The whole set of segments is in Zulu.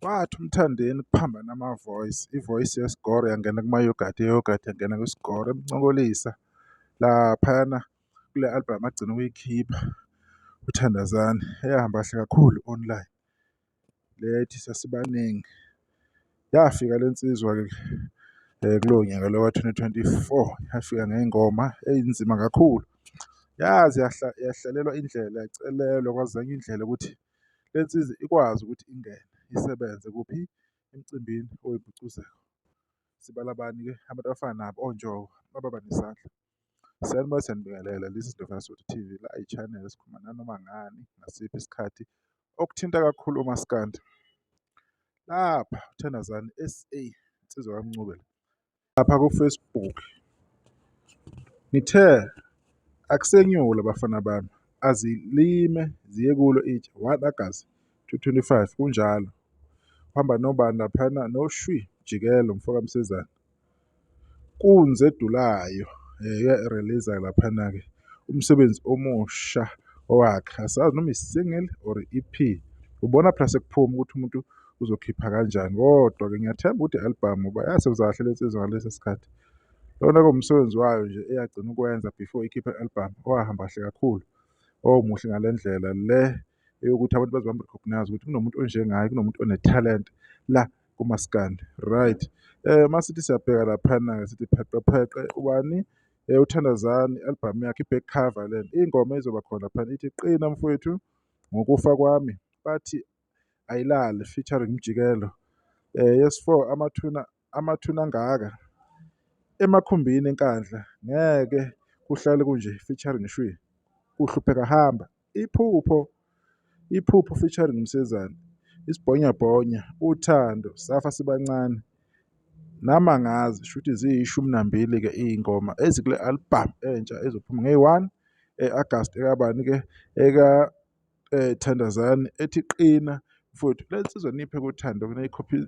Wathi uMthandeni kuphambana ama-voice, i-voice yesikoro yangena kuma-yoghurt, i-yoghurt yangena kwisikoro, emncokolisa laphayana kule albhamu agcina ukuyikhipha uThandazani eyahamba kahle kakhulu online. Lethi sasibaningi yafika le nsizwa-ke kulowo nyaka lo ka-twenty twenty-four yafika ngey'ngoma ey'nzima kakhulu. Yaze yahlalelwa indlela yacelelwa kwazanywa indlela ukuthi le nsizwa ikwazi ukuthi ingene isebenze kuphi emcimbini owumgcugcuzeli. Sibala bani-ke? Abantu abafana nabo oNjoko baba nesandla. Sanibona siyanibingelela this is Dr. Sotho TV la i-channel esikhuluma nanoma ngani ngasiphi isikhathi okuthinta kakhulu umaskandi lapha uthandazani SA insizwa kamncubela lapha ku-Facebook ngithe akusenyula abafana bami azilime ziye kulo itshe 1 August 2025 kunjalo uhamba nobani laphana noshwi jikelo mfoka msezana Kunzi edulayo release laphana-ke umsebenzi omusha wakhe asazi noma i-single or i-EP ubona phela sekuphuma ukuthi umuntu uzokhipha kanjani kodwa-ke ngiyathemba ukuthi i-album uba yasebenza kahle le nsizwa ngalesi sikhathi lona komsebenzi wayo nje eyagcina ukwenza before ikhiphe i-album owahamba kahle kakhulu owumuhle ngale ndlela le eyokuthi abantu baze bam-recognize ukuthi kunomuntu onjengaye kunomuntu onethalente la kumaskandi right eh masithi siyabheka laphana ke sithi pheqe pheqe ubani eh uthandazani album yakhe iback cover len ingoma izoba khona phana ithi qina mfowethu ngokufa kwami bathi ayilali featuring mjikelo eh yes 4 amathuna amathuna ngaka emakhumbini enkandla ngeke kuhlale kunje featuring shwi kuhlupheka hamba Iphupho Iphupho featuring Msezane, Isibhonyabhonya, Uthando, Safa Sibancane, Namangazi shuthi ziyishumi nambili-ke iy'ngoma ezikule albhamu entsha ezophuma ngeyi-one e-Agasti ekabani-ke eka-Thandazani ethi Qina futhi leli sizwe niphe kuthando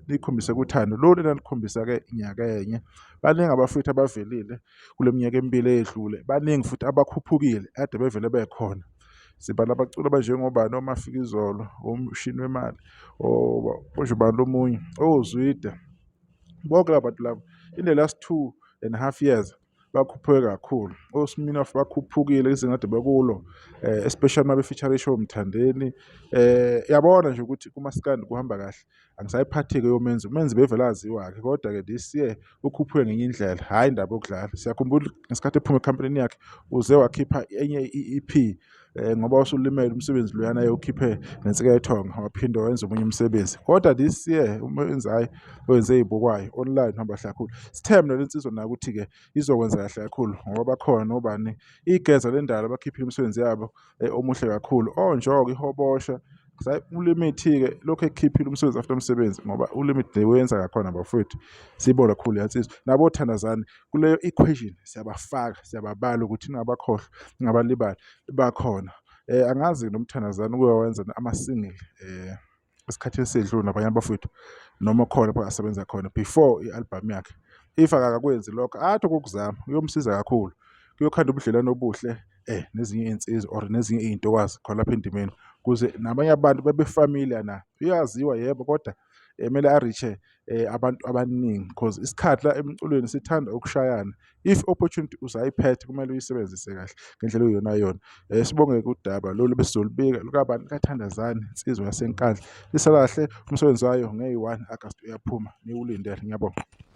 nikhombise kuthando lolu elalikhombisa-ke nyakenye baningi abafowethu abavelile kule minyaka emibili eyedlule baningi futhi abakhuphukile ade bevele bekhona sibala abaculi abanjengobani omafika izolo omshini wemali osho ubani lomunye ozwide bonke laba bantu laba in the last two and a half years bakhuphuke kakhulu osminoff bakhuphukile izinga ade bekulo um eh, especially uma befeature ishow mthandeni um eh, yabona nje ukuthi kumaskandi kuhamba kahle angisayiphathi-ke yomenzi umenzi bevele aziwa-ke kodwa-ke this year ukhuphuke ngenye indlela hhayi indaba yokudlala siyakhumbula ngesikhathi ephuma ekhampanini yakhe uze wakhipha enye i-e p um ngoba usulimele umsebenzi loyana yewukhiphe nensika yethonga waphinde wenza omunye umsebenzi kodwa this year uma wenza hhayi wenze ey'bukwayo online hamba kahle kakhulu sithe mna le nsizwa nayo ukuthi-ke izokwenza kahle kakhulu ngoba bakhona nobani igeza le ndala bakhiphile imisebenzi yabo um omuhle kakhulu onjoko ihobosha ulimithi-ke lokhu ekukhiphile umsebenzi after umsebenzi ngoba ulimithi le wenza kakhona bafowethu siyibona khulu yansizwa nabo thandazane kuleyo equation siyabafaka siyababala ukuthi ningabakhohlwa ningabalibali bakhona um angazi nomthandazane uke wawenza ama-single um esikhathini esedlule nabanye abafowethu noma khona pha asebenza khona before i-albhamu yakhe if akakakwenzi lokho athi okokuzama kuyomsiza kakhulu kuyokhanda ubudlelwano obuhle eh nezinye iy'nsizwa or nezinye iy'ntokwazi khona lapha endimeni kuze nabanye abantu bebefamiliar na uyaziwa yebo kodwa emele arishe um eh, abantu abaningi because isikhathi la emculweni sithanda ukushayana if opportunity usayiphethe kumele uyisebenzise kahle ngendlela oyiyona yona um sibonge kudaba lolu besizolubika lukabani kathandazane insizwa yasenkandla lisakahle umsebenzi wayo ngeyi-one agasti uyaphuma niwulindele ngiyabonga